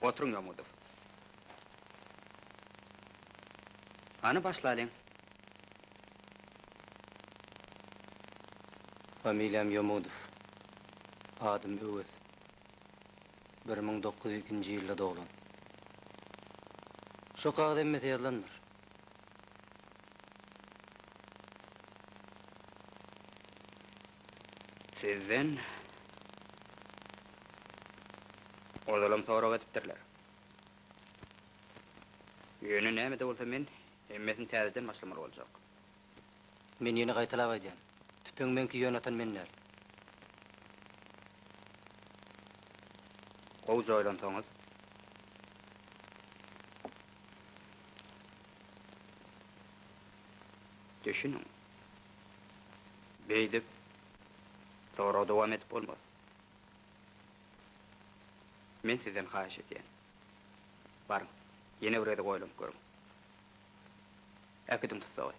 Oturyň Ýomudow. Hany başlalyň. Familiýam Ýomudow. Adym Öwez. Bir müň dokuz ýüz ikinji ýylda doglan. Şo kagyz hemmesi ýazylandyr. Sizden ozalam sorag edipdirler. Ýöne näme-de bolsa men hemmesini täzeden başlamaly boljak. Men ýene gaýtalap aýdýan. Tüpeňi meňki ýöne atan men däl. Gowja oýlansaňyz. Düşüniň. Beýdip, sorag dowam edip bolmaz. Men sizden haýyş edýän. Baryň, ýene bir gezek oýlanyp görüň. Äkidiň tussagy.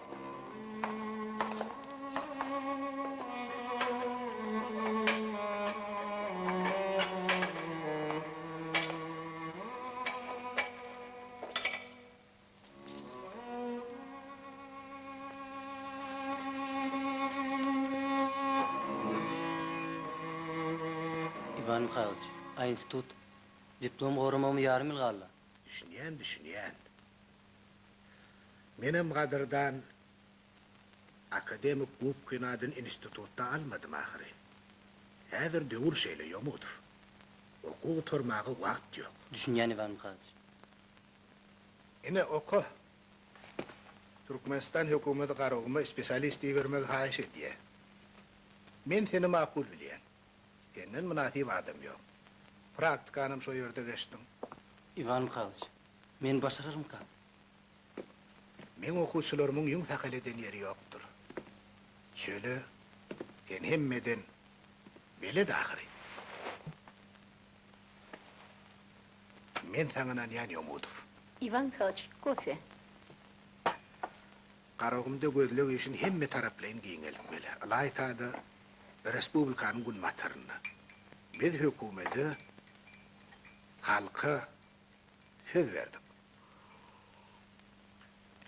Iwan Mihailoç, a institut, diplom goramagyma ýarym ýyl galdy. Düşünýän, düşünýän. Menem gadyrdan akademik gubkyny adyn institutda almadym ahyry. Häzir döwür şeýle ýomudyr. Okuw gutarmaga wagt ýok. Düşünýän Iwan Mihaýlyç. Ine, oka. Türkmenistan hökümeti Garaguma spesialist ibermegi haýyş edýär. Men seni makul bilýän. Senden mynasyp adam ýok. Praktikanam şo ýerde geçdiň. Iwan Mihaýlyç, Men başararmykam? Meň okuwçylarymyň ýüň sakal eden ýeri ýokdur. Şöyle, sen hemmeden belet ahyry. Men saňa ynanýan Ýomudow. Iwan Mihailoç, kofe. Garagumda gözleg işini hemme taraplaýyn giňeltmeli. Ylaýta-da, respublikanyň günbatarynda. Biz hökümede, halka Söz berdik.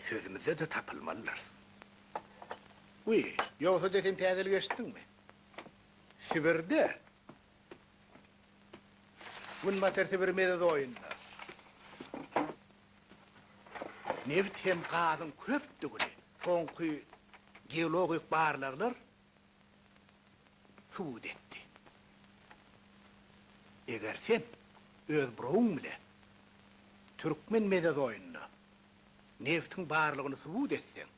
Sözümizde-de tapylmalydyrys. Wiý, ýogsa-da sen täzelik eşitdiňmi? Sibirde, Günbatar Sibir mezozoýunda nebit hem gazyň köpdügini soňky geologik barlaglar subut etdi. Eger sen öz burawyň bilen türkmen mezozoýynda nebtiň barlygyny subut etseň,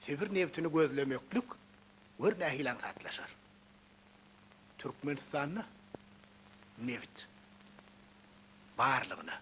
Sibir nebtini gözlemeklik gör nähili aňsatlaşar. Türkmenistanda neft barlygyna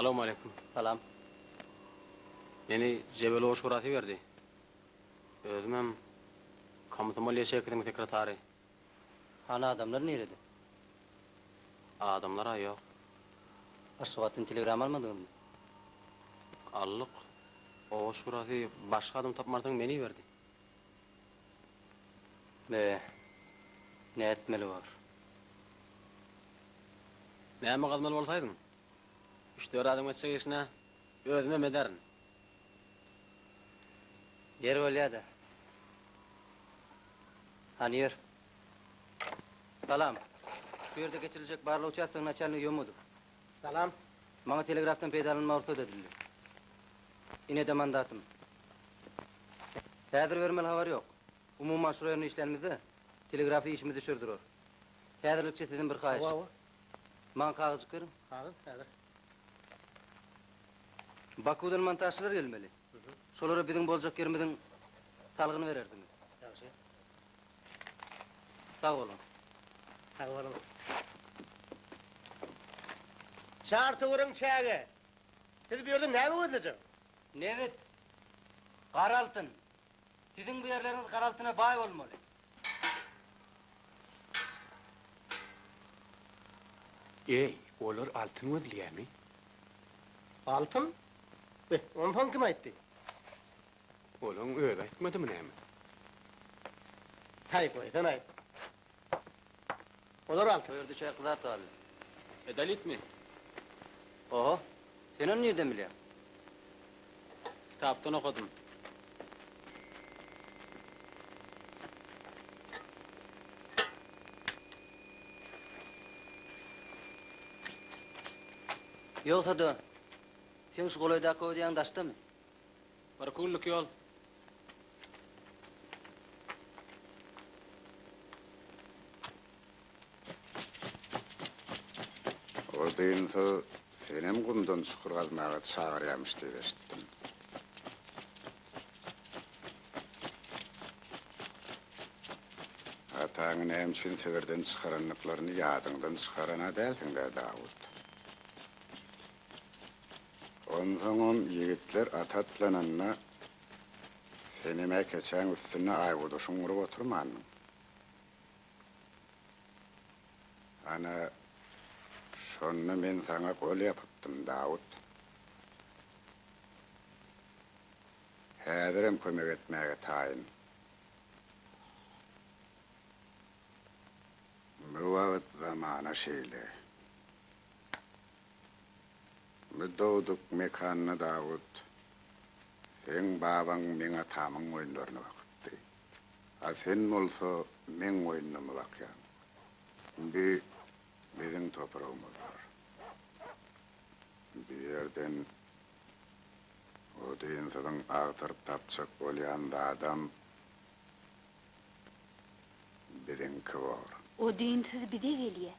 Salowmaleýkum. Salam. Meni Jebelow şurasy berdi. Özümem komsomol ýaşeýkesiniň sekretary. Hany adamlar nirede? Adamlar-a ýok. Aşgabatdan telegram almadyňyzmy? Aldyk. Oba şurasy başga adam tapmarsyň meni berdi. Be, nätmeli bor? Näme gazmaly bolsaýdyň? Üç-dört adam geçjek işine özümem ederin. Ýeri bolýa-da. Hany ýör. Salam. Şu ýerde geçiriljek barlag uçastogyň naçalnigi Ýomudow. Salam. Maňa telegrafdan peýdalanmaga rugsat edildi. Inede mandatym. Häzir bermeli habar ýok. Umuman şura ýerine işlänimizde telegrafy işimiz düşer durar. Häzirlikçe sizden bir haýyş. Hawa, hawa. Maňa kagyzjyk beriň. Kagyz, häzir. Bakuwdan montažçylar gelmeli. Şolara biziň boljak ýerimiziň salgyny berersiňiz. Ýagşy. Sag boluň. Sag boluň. Çartowuryň çägi. Siz bu ýerde näme gözlejek? Nebit. Gara altyn. Siziň bu ýerleriňiz gara altyna baý bolmaly. Eý, olar altyn gözleýärmi? Altyn? Be, onsoň kim aýtdy? Olaň özi aýtmadymy näme? Haý, goý, sen aýt. Olar alty. Bu ýerde içerki zat galdy. Edolitmi? Oho. Sen ony nirden bilýäň? Kitapdan okadym. Ýogsa-da, seň şu golaýdaky öýdýäň daşdamy? Bir kunlik ýol. Ol dynsa, senem gumdan çukur gazmaga çagyrýamyş diýip eşitdim. Ataňy näme üçin Sibirden çykarandyklaryny ýadyňdan çykaran-a dälsiň-dä, Dawut? Onsoňam ýigitler at atlananda, senem-ä keçäň üstünde aýgudy şuňňuryp oturmandyň. Ana, şonda men saňa gol ýapypdym, Dawut. Häzirem kömek etmäge taýyn. Bu wagt zamana şeýle. Bu dogduk mekanda Dawut, seň babaň meň atamyň goýunlaryny bakypdy. A sen bolsa meň goýunlarymy bakýaň. Indi biziň topragymyz bar. Bu ýerden odunsyzyň agtaryp tapjak bolýan zadam biziňki bor. Odunsyz bize gelýär.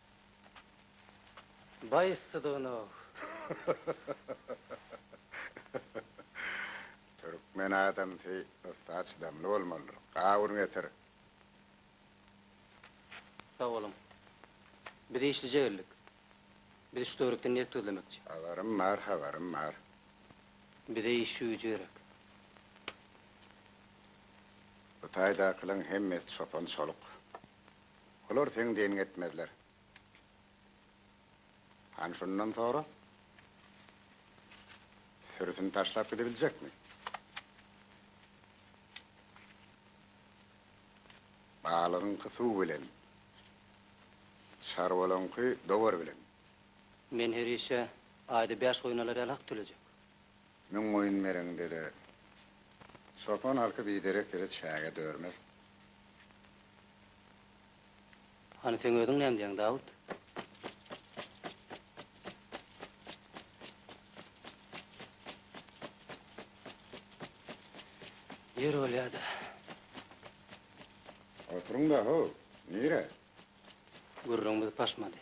Baý yssydygyna-ow. Türkmen adamsy yssa çydamly bolmalydyr. Gawun getir. Sag boluň. Biz işlije geldik. Biz şu töwerekden neft gözlemekçi. Habarym bar, habarym bar. Bize iş güýji gerek. Bu taýdakylaň hemmesi çopan-çoluk. Olar seň diniňi etmezler. Hany şundan sora? Sürüsini taşlap gidebiljekmi? Balygyňky suw bilen, çarwalaňky dowar bilen. Men her işe aýda bäş goýun alar ýaly hak tölejek. Müň goýun bereňde-de, çopan halky biderek ýere çäge dörmez. Hany seň özüň näme diýýäň Dawut? Ýör bolýada. Oturyň-da, how, nirä? Gürrüňimiz paşmady.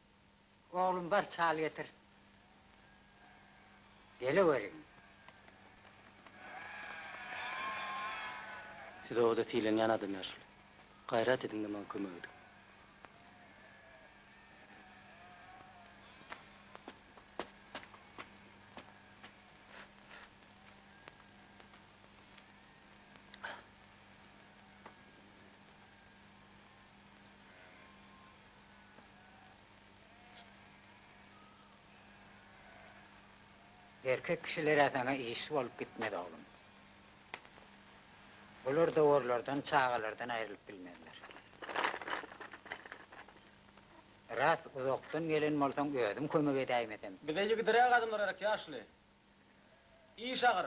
Oglum bar çal getir. Geleweriň. Siz obada sylanýan adamlar şul. Gaýrat ediň-de maňa kömek ediň. Erkek kişilere saňa iş bolup gitmez oglum. Olar dowarlardan, çagalardan aýrylyp bilmezler. Ras uzakdan gelen bolsaň özüm kömek edäýmesem. Bize ýigidiräk adamlar gerek ýaşuly. Iş agyr.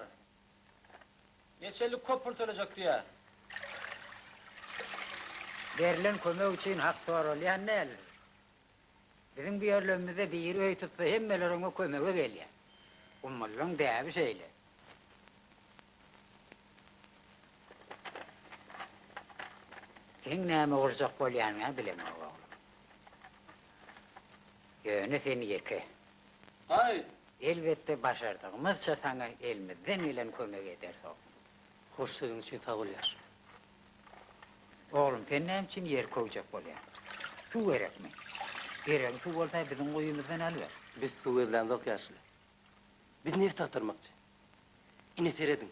Neçelik köp pul töläjek diýýä. Berlen kömek üçin hak soralýan däl. Biziň bu ýerlerimizde biri öý tutsa hemmeler oňa kömege gelýä. Gummullyň däbi şeýle. Seň näme gurjak bolýanyňa bilemok oglum. Ýöne sen ýeke. Haý! Elbetde başardygymyzça saňa elimizden gelen kömegi ederis oglum. Hoş sözüň üçin sag bol ýaş. Oglum sen näme üçin ýer köwjek bolýaň? Suw gerekmi? Geregiň suw bolsa biziň guýymyzdan alyber. Biz suw gözlämzok ýaşuly. Biz neft agtarmakçy. Ine serediň.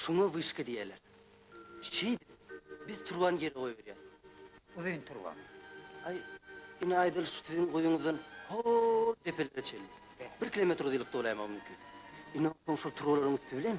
Şuňa wyşka diýerler. Şeýdip, biz turbany ýere goýberýäs. Uzyn turba. Aý, ine aýdaly şu siziň guýuňyzdan hol depelere çenli. Bir kilometr uzynlykda bolaýmagy mümkin. Ine onsoň şol turbalaryň üsti bilen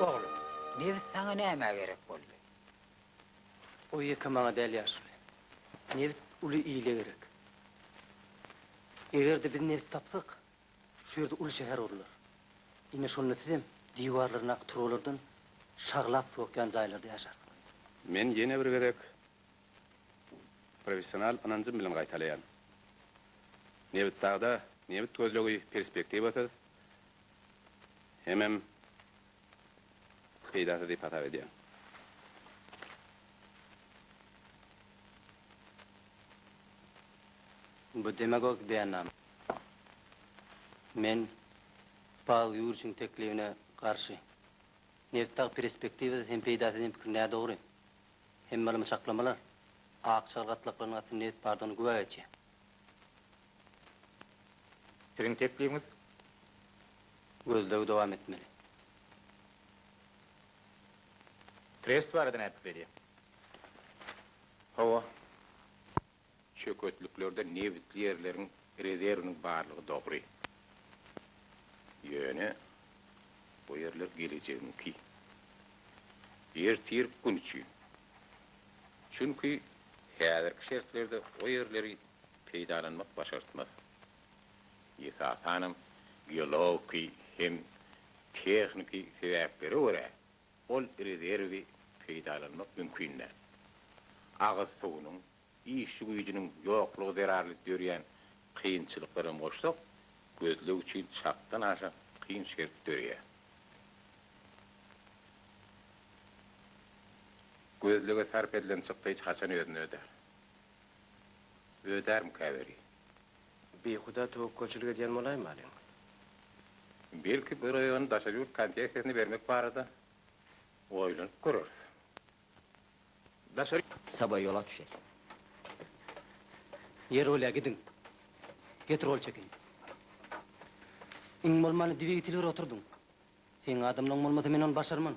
Oglum, nebit saňa nämä gerek boldy? O ýeke maňa däl ýaşuly. Nebit uly ile gerek. Eger-de biz nebit tapsak, şu ýerde uly şäher gurlar. Ine şonda sizem diwarlaryndaky turbalardan şaglap suw akýan jaýlarda ýaşarsyňyz. Men ýene bir gezek Professional ynanjym bilen gaýtalaýan. Nebitdagda nebit gözlegi perspektiwasyz hemem peýdasyz diýip hasap edýän. Bu demagogik beýannama. Men Pawel Ýuriçiň teklibine garşy. Nebitdag perspektiwasyz hem peýdasyz diýen pikir nädogry. Hemme ylmy çaklamalar ak çygar gatlaklarynyň astynda nebit bardygyny güwä geçýär. Siziň teklibiňiz gözlegi dowam etmeli. Trest barada näpikir edýär? Hawa. Çöketliklerde nebitli ýerleriň rezerwiniň barlygy dogry. Ýöne bu ýerler gelejegiňki. Ertirki gün üçin. Çünki häzirki şertlerde o ýerleri peýdalanmak başartmaz. Esasanam geologiki hem tehniki sebäplere görä Ol rezerwi peýdalanmak mümkin däl. Agyz suwunyň, işçi güýjüniň ýoklugy zerarly dörýän kynçylyklary hem goşsak, gözleg üçin çakdan aşa kyn şert döreýär. Gözlege sarp edilen çykda hiç haçan özüni ödär. Ödärmikä weli? Bihuda töwekgelçilik edýän bolaýmalyň. Belki bir oýun daşary ýurt konsessiýasyny bermek barada oýlanyp göreris. Daşary. Saba ýola düşer. Ýeröle gidiň. Petrol çekiň. Iň bolmany dwigitel bir oturdyň. Seň adamlaň bolmasa men ony başarman.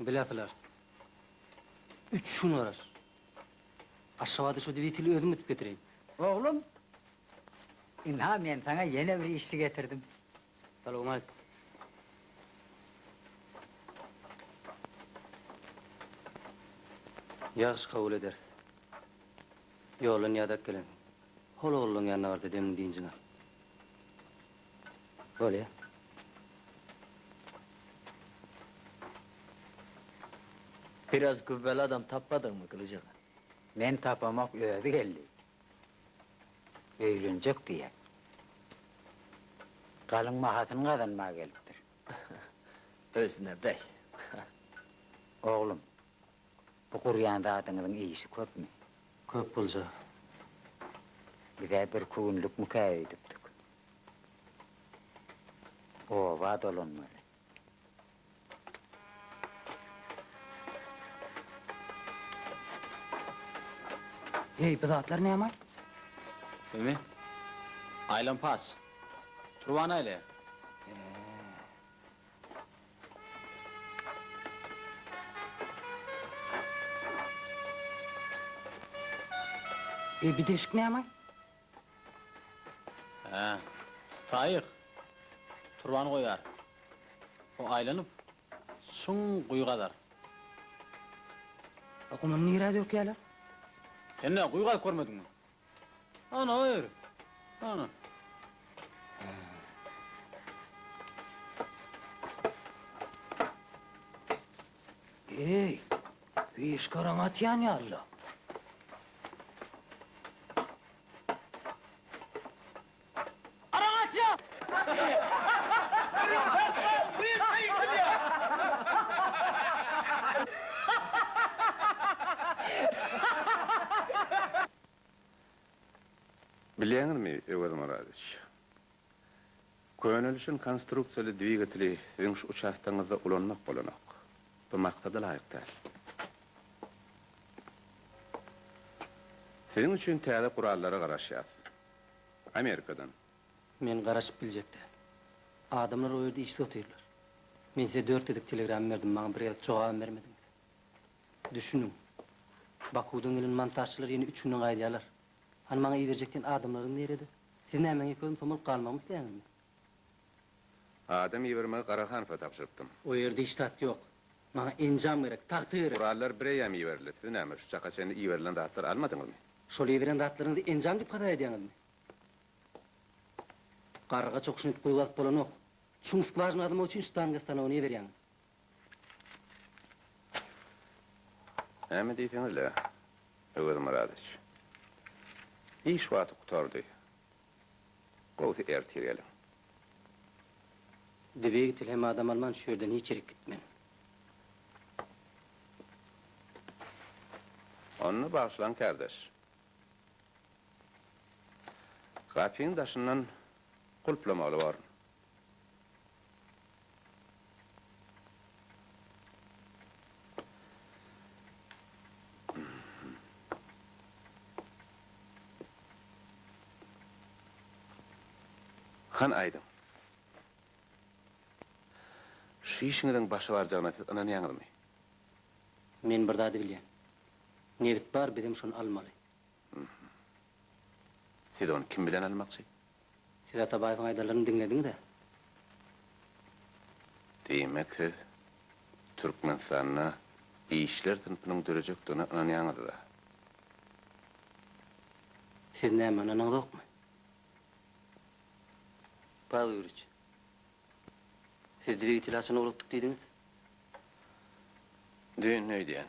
Biläsiler, üç gün garar. Aşgabada şo dwiteli özüm ötüp getireýin. Oglum, ynha men saňa ýene bir işçi getirdim. Salowma aýt. Ýagşy kabul ederis. Ýoldan ýadap gelensiň. Hol ogluň ýanyna bar-da, demini-dinjiňi al. Bolýar. Biraz güwweli adam tapmadyňmy, Gylyj aga? Men tapamok, özi geldi. Öýlenjek diýýär. Galyň bahasyny gazanmaga gelipdir. Özüne beý. Oglum. Bu gurýan zadyňyzyň işi köpmi? Köp bolja. Biz-ä birki günlükmikä öýdüpdik. Oba dolanmaly. Heý, bu zatlar näme? Bumi? Aýlanpas. Turba näleýär? He. Eý, bu deşik nämaý? Hä, taýyk. Turbany goýar. O aýlanyp, çuň guýy gazar. A gumuny nirä dökýärler? Sen-ä guýy gazyp görmediňmi? Ana ýeri. Ana. Eý, wiş garaň atýan ýaly. Bilýäňizmi, Öwez Myradowiç, könelişen konstruksiýaly dwigateli siziň şu uçastogyňyzda ulanmak bolanok. Bu maksada laýyk däl. Siziň üçin täze gurallara garaşýas. Amerikadan. Men garaşyp biljek däl. Adamlar o ýerde işli otyrlar. Men size dört gezek telegram berdim, maňa bir gezek jogabam bermediňiz. Düşüniň. Bakuwdan gelen montažçylar ýene üç günden gaýdýarlar. Hany maňa iberjek diýen adamlaryňyz nirede? Siz näme öňe komsomolyk galmagymy isleýäňizmi? Adam ibermegi Garahanowa tabşyrypdym. O ýerde hiç zat ýok. Maňa enjam gerek, tagta gerek. Gurallar bireýýäm iberildi. Siz näme, şu çaka çenli iberilen zatlary almadyňyzmy? Şol iberen zatlaryňyzy enjam diýip hasap edýäňizmi? Garga çokuşyny edip guýgazyp bolanok. Çuň skwažyna gazamak üçin ştanga stanogyny iberýäňiz. Näme diýseňiz-le, Öwezmyradow. Iş wagty gutardy. Gowsy erte geliň. Dwegitel hem adam alman şu ýerden hiç ýerik gitmen. Onda bagyşlaň kärdeş. Gapyň daşyndan gulplamaly born. Hany aýdyň. Şu işiňiziň başa barjagyna siz ynanýaňyzmy? Men bir zady bilýän. Nebit bar, bizem şony almaly. Siz ony kim bilen almakçy? Siz Atabaýewiň aýdanlaryny diňlediňiz-ä? Diýmek siz Türkmenistanda işçiler synpynyň dörejekdigine ynanýaňyzda? Siz näme ynanyňyzokmy? Pawel Ýuriç, siz dwigiteli haçan ugrukdyk diýdiňiz? Düýn öýdýän.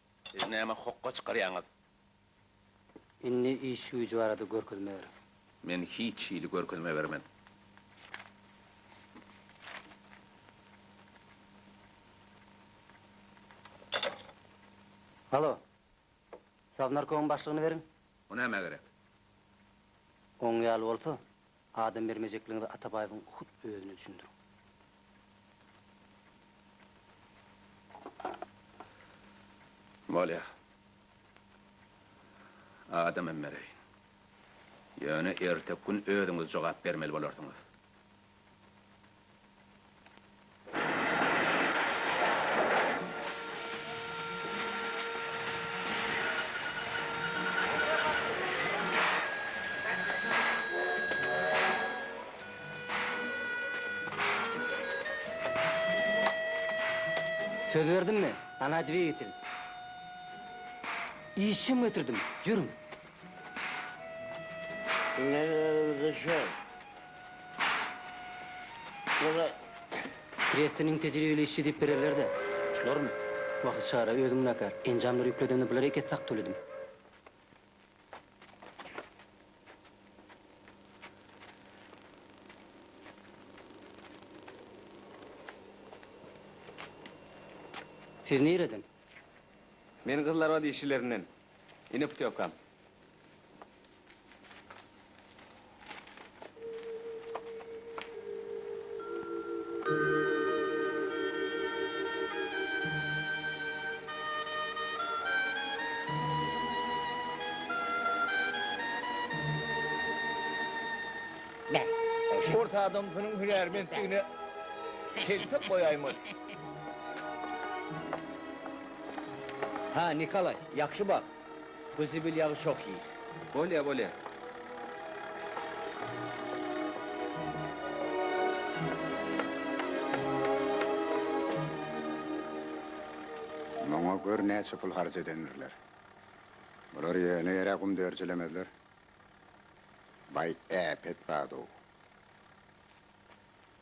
Siz näme hokga çykarýaňyz? Indi iş-güýji barada görkezme ber. Men hiç hili görkezme bermen. Halo! Sownarkomyň başlygyny beriň. O nämä gerek? Oň ýaly bolsa, Adam bermejekligiňizi Atabaýewiň hut özüne düşündiriň. Bolýar. Adamam bereýin. Ýöne erteki gün özüňiz jogap bermeli bolarsyňyz. Söz berdim men, ana dwigitel. Işjeň getirdim, ýörüň. Trieste niň tejribeli işçi diýip bilerlerdi. Şularmy? Wah çara özüm günäkär. Enjamlary ýükledemde bular eket sak töledim. Siz nireden? Men gyzlarbat işçilerinden. Ine putýowkam. Ors adamsynyň hünärmentdigine telpek goýaýmaly. Hä, Nikolaý, ýagşy bak, bu zibil ýagy çoh iý. Bolýa, bolýa. Muňa gör näçe pul harç edendirler. Bular ýöne ýere gum dörjelemezler. Baý äpet zad-ow.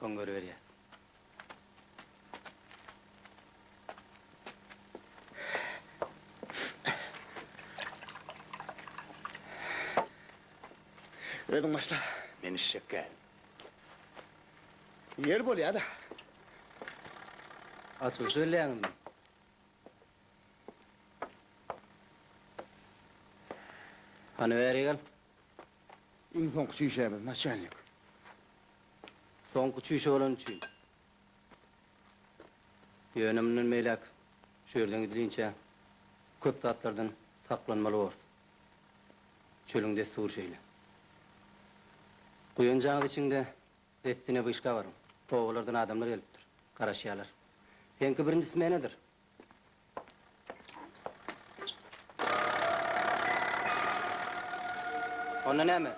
Soň görüberýäs. Özüň başla. Men işşekkä. Ýer bolýa-da. Açylyş elleýäňizmi? Hany bäri gel. Iň soňky çüýşämiz, naçalnik. Soňky çüýşe bolany üçin. Ýöne mundan beýläk şu ýerden gidilinçä köp zatlardan saklanmaly borys. Çölüň dessury şeýle. Guýan jaňyz içiňde dessine wyşka baryň. Obalardan adamlar gelipdir. Garaşýarlar. Seňki birinji smenadyr. Onda näme?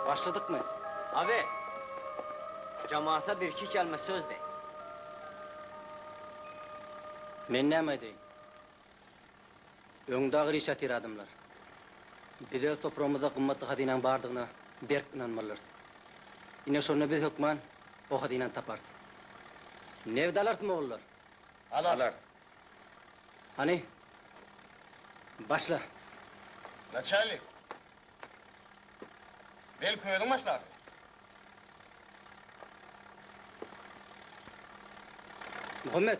Başladykmy? Awe. Jamata birki kelme söz de. Men näme aýdaýyn? Öňde agyr iş ýatyr adamlar. Biz öz topragymyzda gymmatly hazynaň bardygyna berk ynanmalyrys. Ine şonda biz hökman o hazynany taparys. Nebit alarys, mogullar! Alert. Hany, başla. Naçalnik. Belki özüň başlarsyň. Muhammet.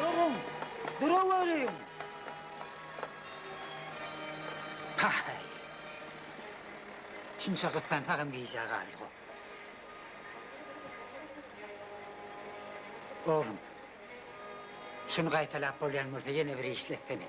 Duruň, duraweriň! Paý! Şunça gyssansagam gijä galyňok. Oglum, şuny gaýtalap bolýan bolsa ýene bir işletsene.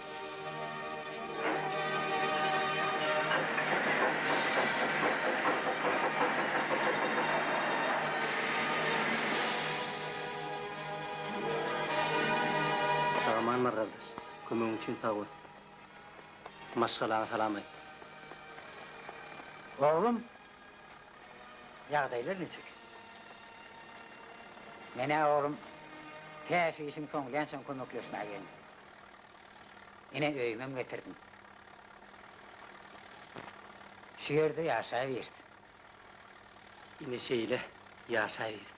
Aman gardaş, kömegiň üçin sag bol. Maşgalaňa salam aýt. Oglum, ýagdaýlar niçik? Men-ä oglum, täşli işiň soňlansoň kömekleşmäge geldim. Ine, öýümem getirdim. Şu ýerde ýaşaýbiris. Ine, şeýle ýaşaýbiris.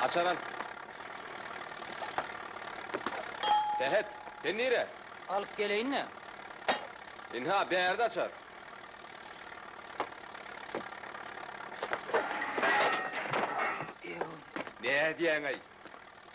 Açar al. Sähet, sen nire? Alyp geleýin-le. Ynha, bärde açar. Nädýäň-aý?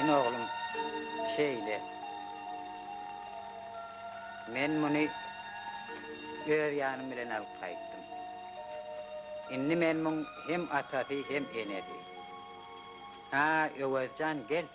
Ine oglum, şeýle. Men muny öz ýanym bilen alyp gaýtdym. Indi men muň hem atasy, hem enesi. Ha, Öwezjan, gel.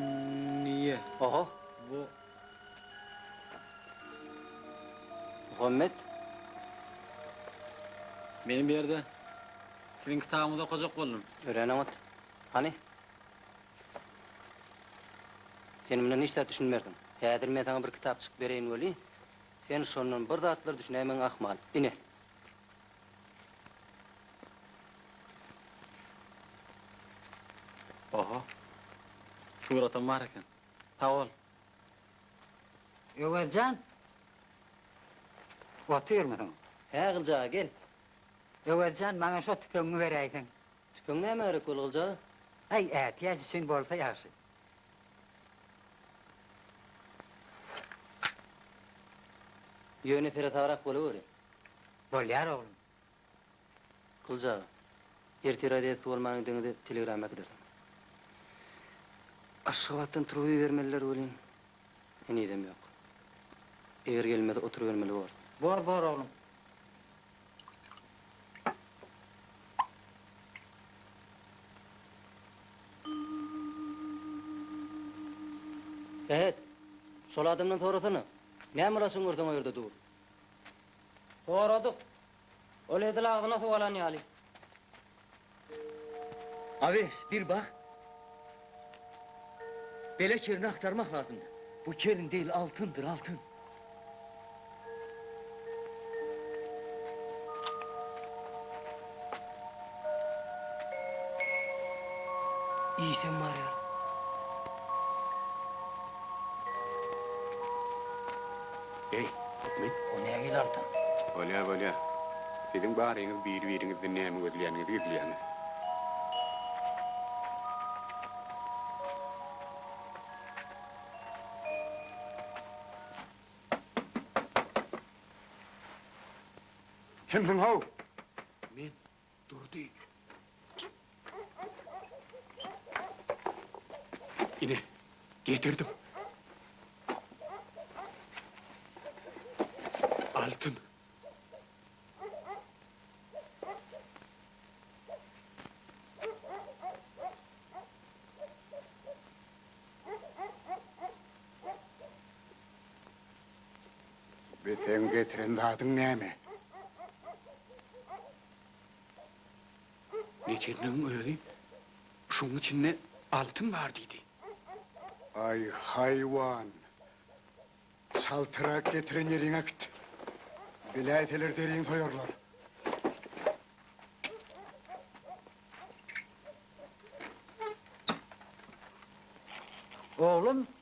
Ýagleniýe. Oho. Bu. Muhammet. Men bu ýerde siziň kitabyňyzy okajak boldum. Örän oňat. Hany. Sen mundan hiç zat düşünmersiň. Häzir men saňa bir kitap çykyp bereýin weli, sen şondan bir zatlar düşünäýmäň ahmal. Ine. Oho. Suratam bar eken. Sag bol. Öwez jan. Otyrmysyň? Hä Gylyjaga gel. Öwez jan maňa şo tüpeňiňi beräýseň. Tüpeň nämä gerek bol Gylyjaga? Aý ätiýaç üçin bolsa ýagşy. Ýöne seresagrak bolaweri. Bolýar oglum. Gylyç aga. Ertir razýetka bolmanyň deňizi telegram äkidersiň. Aşgabatdan turup ibermeliler welin, henizem ýok. Eger gelmese oturybermeli borys. Bor, bor oglum. Sähet, şol adamdan sorasana, näme ulaşyň görseň o ýerde dur. Goradyk. Ol edil agzyna suw alan ýaly. Awes, bir bak. Bele kerini agtarmak lazymdy. Bu kerin degil, altyndyr, altyn. Iýsem bar ýaly. Eý, Akmet! O nähili altyn? Bolýar, bolýar. Siziň baryňyz biri-biriňizden näme gözleýäniňizi gizleýäňiz. Kimsiň-how? Men. Durdy. Ine, getirdim. Altyn. Bi seň getiren zadyň näme? Neçirniň özi şuň içinde altyn bar diýdi. Aý, haýwan! Çaltyrak getiren ýeriňe git. Biläýseler deriň soýarlar. Oglum,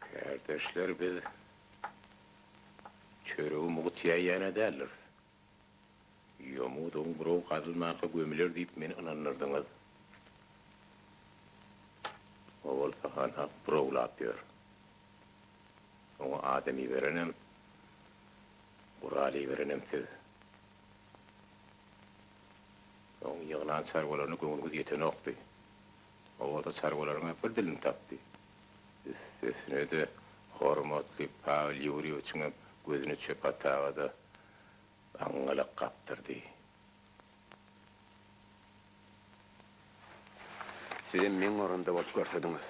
Kärdeşler biz çöregi mugt ýeýäne däldiris. Ýomudugyň buraw gazylmanka gömüler diýip meni ynandyrdyňyz. O bolsa hanhak burawlap ýör. Oňa adam iberenem, gural iberenem siz. Oň ýygnan çarwalaryna göwnüňiz ýetenokdy. Oba-da çarwalaryň-a bir dilini tapdy. Üstesine-de, hormatly Pawel Ýurýewiçiňem gözüni Çöpataga-da aňňalak gapdyrdy. Sizem meň orunda bolup görsediňiz.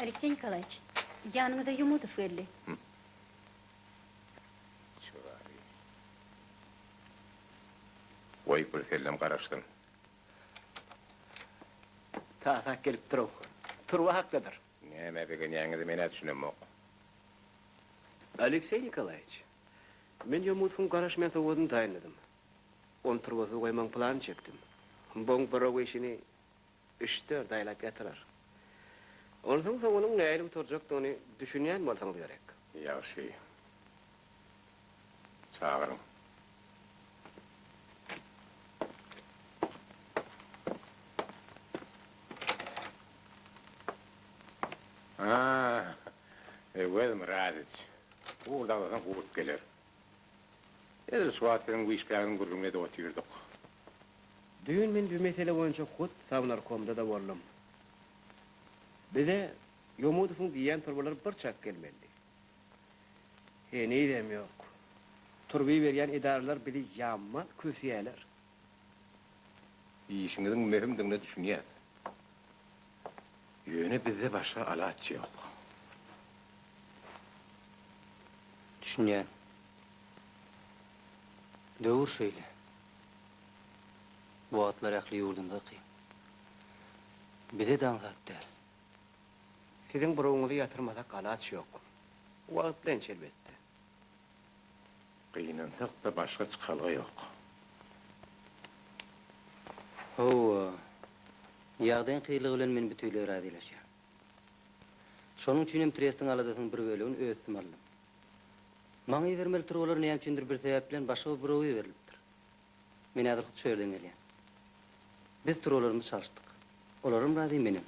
Alekseý Nikolaýewiç, ýanyňyza Ýomudow geldi. Çygaryň. Goý, birsellem garaşsyn. Tasak gelipdir-ow. Turba hakdadyr. Näme begenýäňizi men-ä düşünemok. Alekseý Nikolaýewiç, men ýomutgyň garaşmaýan sowadyny taýynladym. Ony turbasy goýmagyň planyny çekdim. Boň-borow işini üç-dört aýlap ýatyrar. Onsoň soňunyň nähili gutarjakdygyny düşünýän bolsaňyz gerek. Ýagşy. Çagyryň. Aa, Öwez Myradyç. Gurt agzasaň gurt geler. Edil şu wagt biziň bu işgäriň gürrüňini edip otyrdyk. Düýn men bu mesele boýunça hut Sownarkomda-da boldum. Bize Ýomudowyň diýýän turbalar bir çak gelmelidi. Henizem ýok. Turby berýän edaralar bizi ýaman kösýärler. Işiňiziň möhümdigine düşünýäs. Ýöne bizde başga alaç ýok. Düşünýän. Döwür şeýle. Bu wagtlar ähli ýurdumyzda kyn. Bize daň zat däl. Siziň burugyňyzy ýatyrmasak alaç ýok. Wagtlanç elbetde. Gynansak-da başga çykalga ýok. Hawa, ýagdaýyň kyrlygy bilen men büteýleý razylaşýan. Şonuň üçin hem trestiň aladasynyň bir bölegini öz üstüme aldym. Maňa ibermeli turbalar näme üçindir bir sebäp bilen başga bir buroga iberilipdir. Men häzir hut şu ýerden gelýän. Biz turalarymyzy çalyşdyk. Olaram razy, menem.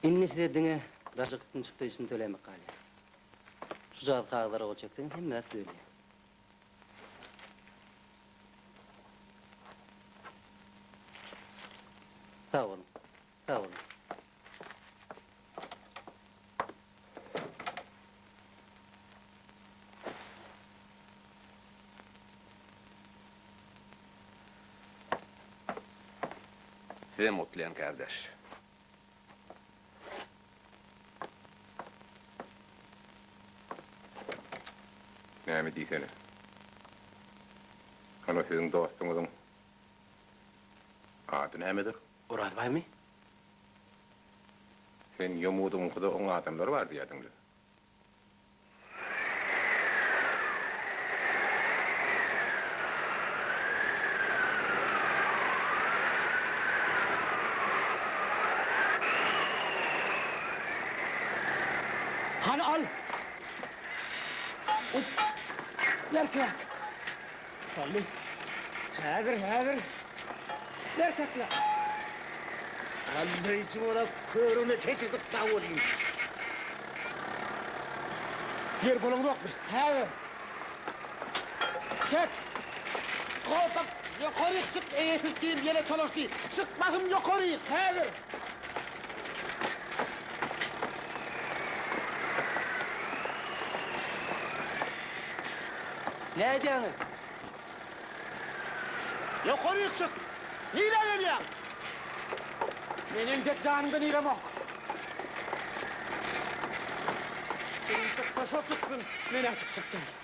Indi size diňe daşy gytny çykdajysyny tölämek galýar. Şu jazy kagyzlara gol çekseňiz hemme zat düzelýär. Sag boluň. Sag boluň. Sizem gutlaýan kardeş. Näme diýsene. Hany siziň dostuňyzyň ady nämedir? Orazbaýmy? Sen ýomudyňkyda oň adamlary bar diýýärdiň-le? Hany al! Berkräk! Salli. Häzir, häzir. Ber takla. Allaý jora körüne keçirdik sag boluň. Ýer bolaňokmy? Häzir. Çek. Goldap, ýokaryk çyk, eýesiz diýim ýele çalyşdy. Çykmasyn ýokaryk, häzir. Nädýäňiz? Ýokaryk çyk! Nirä gelýäň? Men entek janyňda niremok. Kim çyksa şo çyksyn, men aşyk çykdym.